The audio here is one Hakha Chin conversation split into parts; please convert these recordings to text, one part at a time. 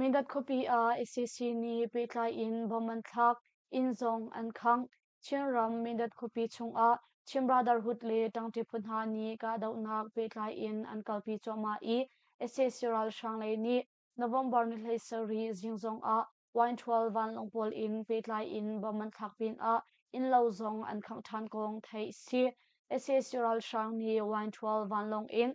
Medat khuapi ah ICC nih pehtlai in bom an thlak, inn zong an khangh. Chinram Medat khuapi chungah Chin Brotherhood le ṭangṭi phu hna nih kahdohnak pehtlai in an kalpi cuahmah i sac ralhrang lei nih November ni hlei sarih zing zongah Y12 vanlawng pawl in pehtlai in bom an thlak pinah innlo zong an khangh ṭhan kong theih a si. sac ralhrang nih Y12 vanlawng in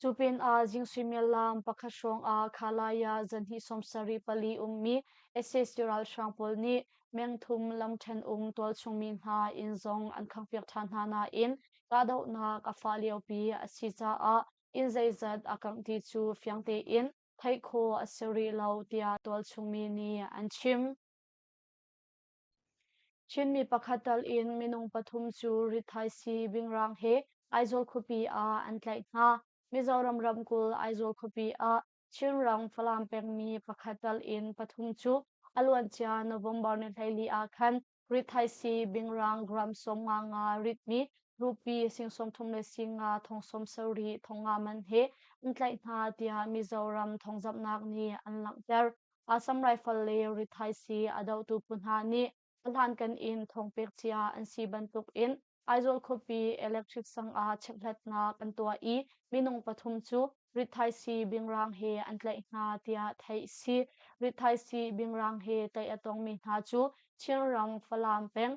Cu pinah zing suimilam pakhat hrawngah Khalaya zanhnih sawmsarih pali ummi sac ralhrang pawl nih mengthum lam ṭhenum tualchungmi hna inn zong an khanghpiak ṭhan hna nain kahdohnak a fah liopi a si caah inn zeizat a kangh ti cu fiang tein theih khawh a si rih lo tiah tualchungmi nih an chim. Chinmi pakhat tal in minung pathum cu rithaisi Vingrang he Aizawl khuapi ah an tlaih hna. Mizoram ramkulh Aizawl khuapi ah Chinram Falam pengmi pakhat tal in pathum cu a luancia November ni hleili ah khan rithaisi Vingrang gram sawmnga nga ritmi rupi sing sawmthum le singa thong sawm sarih thongngaman he an tlaih hna tiah Mizoram thawngzamhnak nih an langhter. Assam Rifle le rithaisii a dohtu phu hna nih ahlankan in thawng pek cia an si bantuk in Aizawl khuapi electric sang ah checkhlatnak an tuah i minung pathum cu rithaisii bingrang he an tlaih hna tiah theih a si. Rithaisii bingrang he tlaih a tongmi hna cu Chinram Falam peng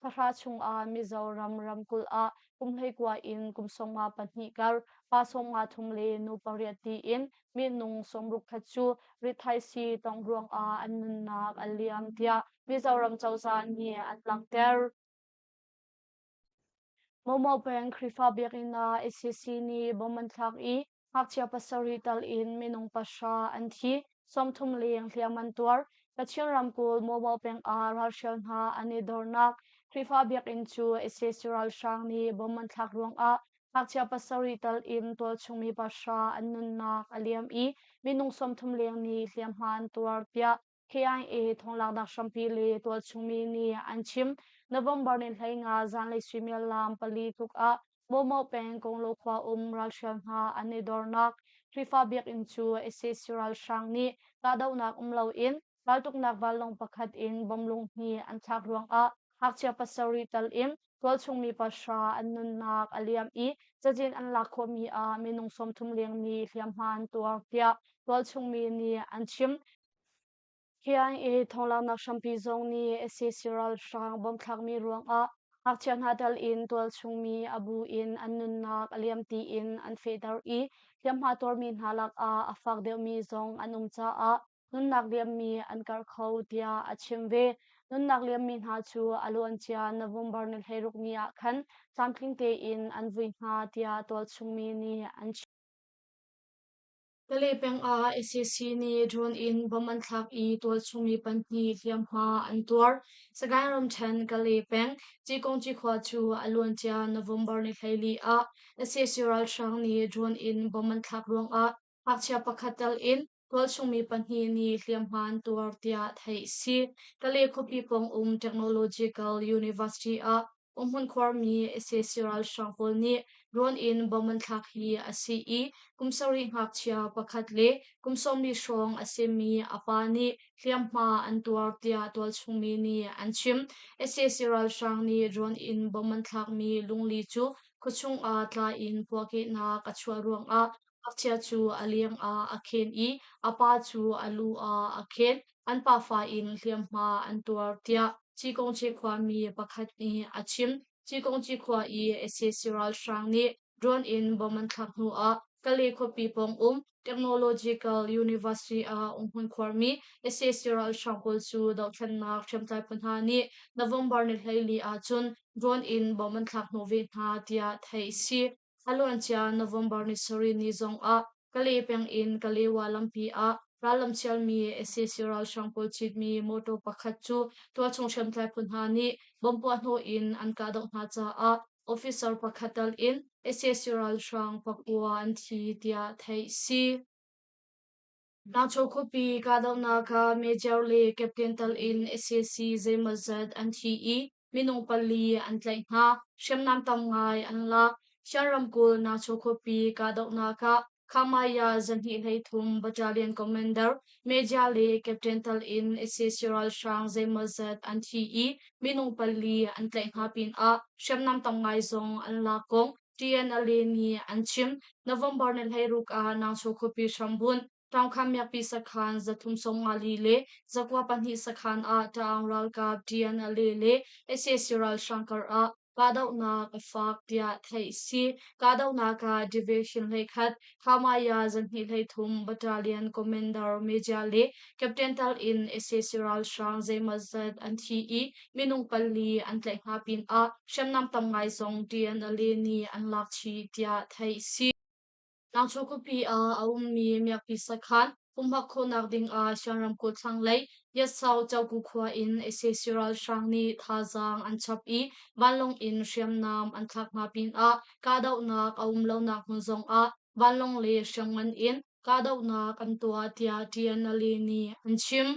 Thahra chungah Mizoram ramkulh ah kum hleikua in kum sawmnga pahnih kar pa sawmnga thum le nu pariat tiin minung sawmruk khat cu rithaisi tong ruangah an nunnak a liam tiah Mizoram cozah nih an langhter. Momo peng Khrihfa biakinn ah ACC nih bom an thlak i Ngakchia pasarih tal in minung pahra an thi, sawmthum leng hliam an tuar. Kachin ramkulh mobile peng ah ralhrial hna an i dornak Khrihfa biakinn cu sac ralhrang nih bom an thlak ruangah ngakchia pasarih tal in tualchungmi pahra an nunnak a liam i minung sawmthum leng nih hliamhma an tuar, tiah KIA thonglaknak hrampi le tualchungmi nih an chim. November ni hlei nga zanlei suimilam pali tluk ah Bomo peng Konglo khua um ralhrial hna an i dornak Khrihfa biakinn cu SS ralhrang nih kahdohnak um loin raltuknak vanlawng pakhat in bom lunghni an thlak ruangah ngakchia pasarih tal in tualchungmi pasra an nunnak a liam i cazin an lak khawhmi ah minung sawmthum lengmi hliamhma an tuar tiah tualchungmi nih an chim. KIA thawnglaaknak hrampi zong nih SAC ralhrang bawmthlakmi ruangah ngakchia hna tel in tualchungmi a bu in an nunnak a liam tiin an fehter i hliamhma tuarmi hna lakah a fak deuhmi zong an um caah nunnak liammi an karh kho tiah a chim ve. Nunnak liammi hna cu a luancia November ni hleiruk ni ah khan tlamtling tein an vui hna tiah tualchungmi nih an chim. Pale peng ah SAC nih drone in bomb an thlak i tual chung i pahnih hliamhma an tuar. Sagaing ramṭhen Kale peng Cikung Cikhua cu a luancia November ni hleili ah SAC ralhrang nih drone in bomb an thlak ruangah ngakchia pakhat tal in tual chungmi pahnih nih hliamhma an tuar tiah theih a si. Kale khuapi pawng um Technological University ah Umhmun khuarmi sac ralhrang pawl nih rawn in bomb an thlak hi a si i kum sarih ngakchia pakhat le kum sawmli hrawng a simi a pa nih hliamhma an tuar tiah tualchungmi nih an chim. sac ralhrang nih rawn in bomb an thlakmi lungli cu khuachung ah tla in puahkehnak a chuah ruangah Ngakchia cu a leng ah a khen i a pa cu a lu ah a khen. An pafa in hliamhma an tuar tiah Cikung Cikhuami pakhat nih a chim. Cikung Cikhua i sac ralhrang nih drone in bomb an thlak hnu ah Kalay khuapi pawng um Technological University ah um hmun khuarmi sac ralhrang pawl cu dohthlennak hriamtlai phu hna nih November ni hleili ahcun drone in bomb an thlak hnawh ve hna tiah theih a si. Thla luancia November ni sarih ni zongah Kale peng in Kalewa lampi ah rallam chialmi sac ralhrang pawl citmi mawtaw pakhat cu tualchung hriamtlai phu hna nih bom puahhnawh in an kahdoh hna caah officer pakhat tal in sac ralhrang pakua an thi tiah theih a si. Nakchaw khuapi kahdohnak kha Major le Captain tal in sac zeimawzat an thi i minung pali an tlaih hna, hriamnam tam ngai an lak. Shan ramkulh Nakchaw khuapi kahdohnak ah Khamaya zahnih hleithum battalion commander, Major le Captain tal in sac ralhrang zeimawzat an thi i minung pali an tlaih hna pinah hriamnam tam ngai zong an lak kong TNLA nih an chim. November ni hleiruk ah Nangchaw khuapi hrambunh, ṭamkhan miakpi sakhan zathum sawmngali le zakua pahnih sakhan ah Taang ralkap TNLA le sac ralhrang kar ah kahdohnak a faak tiah theih a si. Kahdohnak ah division hleikhat, Khamaya zarhhnih hleithum battalion commander Media le captain tal in sac ralhrang zeimawzat an thi i minung pali an tlaih hna pinah hriamnam tam ngai zong DNLA nih an lak chih tiah theih a si. Nangchu khuapi ah a ummi miakpi sakhan Pumhak khawhnak dingah Shan ramkulh thlanglei Yatsau Choku khua in ISIS ralhrang nih thazaang an chap i vanlawng in hriamnam an thlak hna pinah kahdohnak a um lonak hmun zongah vanlawng le hriangman in kahdohnak an tuah tiah TNLA nih an chim.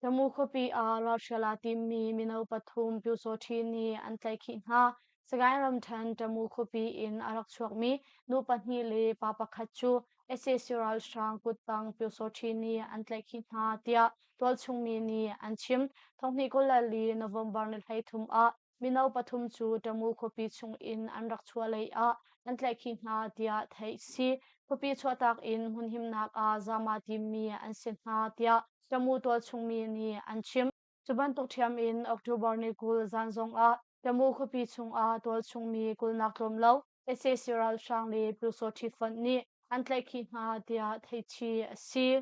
Samu khuapi ah Russia la timmi mino pathum Pyusawhti nih an tlaihkhih hna. Sagaing ramṭhen Tamu khuapi in a rak chuakmi nu pahnih le pa pakhat cu sac ralhrang kuttang Pyusawhti nih an tlaihkhih hna, tiah tualchung mi nih an chim. Thonghnih kul le li November ni hleithum ah Mino pathum cu Ṭamu khuapi chungin an rak chuah leiah an tlaihkhih hna tiah theih a si. Khuapi chuahtak in hmunhimnak ah zama timmi an si hna tiah Ṭamu tualchungmi nih an chim. Cu bantuk ṭhiam in October ni kul zan zongah Ṭamu khuapi chungah tualchungmi kulhnak tlawm lo sac ralhrang le Pyusawhṭhi fonh nih an tlaihkhih hna tiah theih chih a si.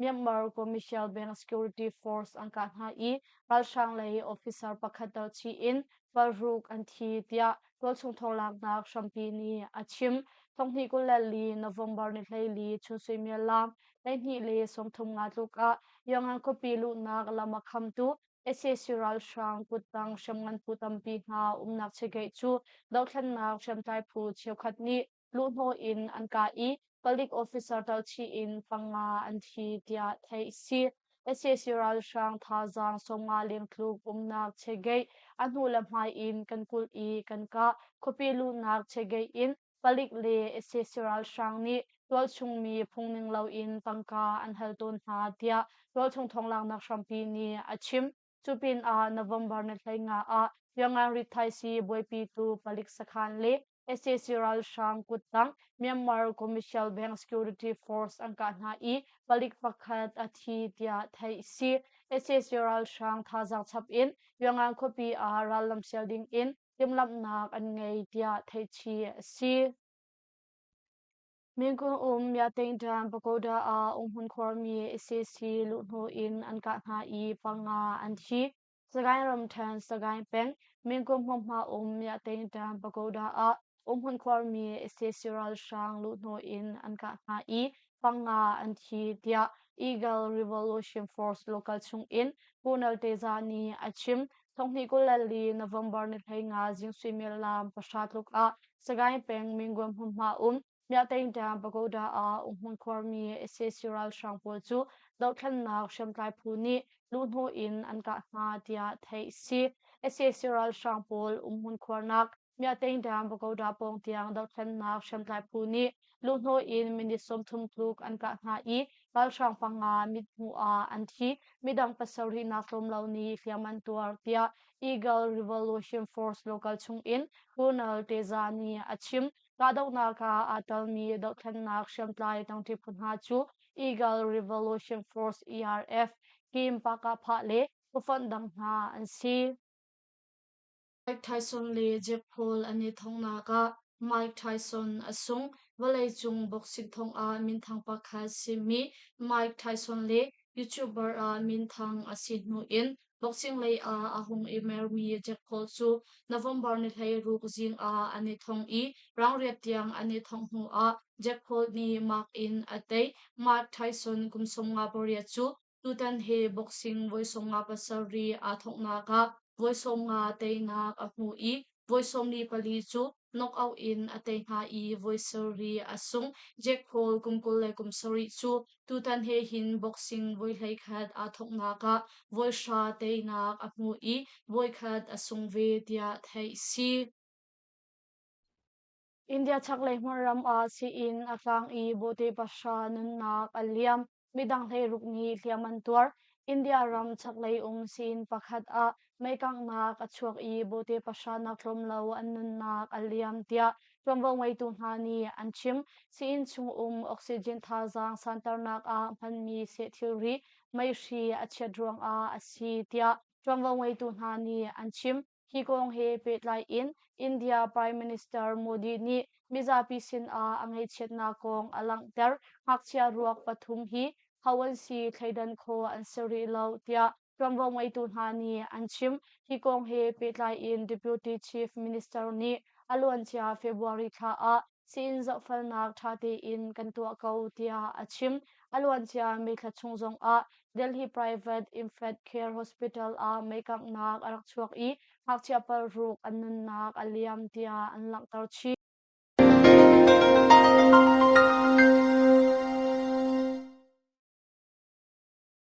Myanmar Commercial Bank Security Force an kah hna i ralhrang lei officer pakhat darchih in ralhruk an thi, tiah tualchung thawnglaaknak hrampi nih a chim. Thonghnih kul le li November ni hleili chun suimiallam hleihnih le sawmthum nga tluk ah Yangon khuapi luhnak lam a khamtu sac ralhrang kuttang hriamngan phu tampi hna umnak chegeih cu dohthlennak hriamtlai phu cheukhat nih luhhnawh in an kah i palik officer talchih in panga an thi tiah theih a si. sac ralhrang thazaang sawmnga lengtluk umnak chegeih a hnu le hmai in kan kulh i kan kah khuapi luhnak chegeih in palik le sac ralhrang nih tualchungmi phungning loin tangka an hal tawn hna tiah tualchung thawng langhnak hrampi nih a chim. Cupinah November na hlei nga ah Yangon-ri thaisi buaipi tu palik sakhan le sac ralhrang kuttang Myanmar Commercial Bank Security Force an kah hna i palik pakhat a thi tiah theih a si. sac ralhrang thazaang chap in Yangon khuapi ah rallam sial ding in timhlamhnak an ngei tiah theih chih a si. Mekung um Myatengṭan pagoda ah umhmun khuarmi ICC luhhnawh in an kah hna i panga an thi. Sagaing ramṭhen Sagaing peng Mekung hmunhma um Myatengṭan pagoda ah umhmun khuarmi ICC ralhrang luhhnawh in an kah hna i panga an thi tiah Eagle Revolution Force local chung in Pu Nalteza nih a chim. Thonghnih kul le li November ni hlei nga Jing Sui Mil Lam pahra tluk ah Sagaing peng Minguan hmunhma um Myahteng dam Pagoda ah Unghmun khuarmi ICC ralhrang pawl cu dohthlannak hriamtlai phu nih lu hnu in an kah hna tiah theih a si. ICC ralhrang pawl Unghmun khuarnak Myahtengdang Pagoda pawng tiang dothlennak hriamtlai phu nih luhnawi in minute sawmthum tluk an kah hna i ralhrang panga mithmuh ah an thi, midang pasarih nak tlawm lo nih hliam an tuar tiah Eagle Revolution Force local chung in Colonel Teza nih a chim. Kahdohnak ah aa telmi dothlennak hriamtlai tangṭi phu hna cu Eagle Revolution Force ERF, Kim Pakapha le ufanh dang hna an si. Mike Tyson le Jeff Paul an i thongnak ah Mike Tyson a sung. Vawleicung boxing thong ah minthang pakhat simi Mike Tyson le YouTuber ah minthang a si hnu in boxing lei ah a hung i mermi Jeff Paul cu November ni hleiruk zing ah an i thong i rangriat tiang an i thongh hnu ah Jeff Paul nih mark in a tei. Mike Tyson kum sawmnga pariat cu Tutan he boxing voisawmnga pasarih aa thawknak ah voisawmnga teinak a hmu i voisawmni pali cu knockout in a tei hna i voi sarih a sung. Jack Hall kum kul le kum sarih cu tutan he hin boxing voi hleikhat aa thawknak ah voi hra teinak a hmu i voi khat a sung ve tiah theih si. India chaklei hmun ram ah sii-inn a tlang i bawhte pahra nunnak a liam. Midang hleiruk nih hliam an tuar. India ram chaklei um sii-inn pakhat ah meikanghnak a chuak i bawhte pahra nak tlawm lo an nunnak a liam tiah ṭuanvo ngeitu hna nih an chim. Sii-inn chung um oxygen thazaang santernak ah hmanmi seh thilri, meihri a chiat ruangah a si tiah ṭuanvo ngeitu hna nih an chim. Hi kong he pehtlai in India Prime Minister Modi nih mizapi sinah a ngaihchiatnak kong a langhter. Ngakchia ruak pathum hi ho an si thleidan khawh an si rih lo tiah ṭuanvo ngeitu hna nih an chim. Hi kong he pehtlai in Deputy Chief Minister nih a luancia February thla ah sin zohfelnak ṭha tein kan tuah ko tiah a chim. A luancia meithla chung zongah Delhi Private Infant Care Hospital ah meikanghnak a rak chuak i ngakchia paruk an nunnak a liam tiah an langhter chih.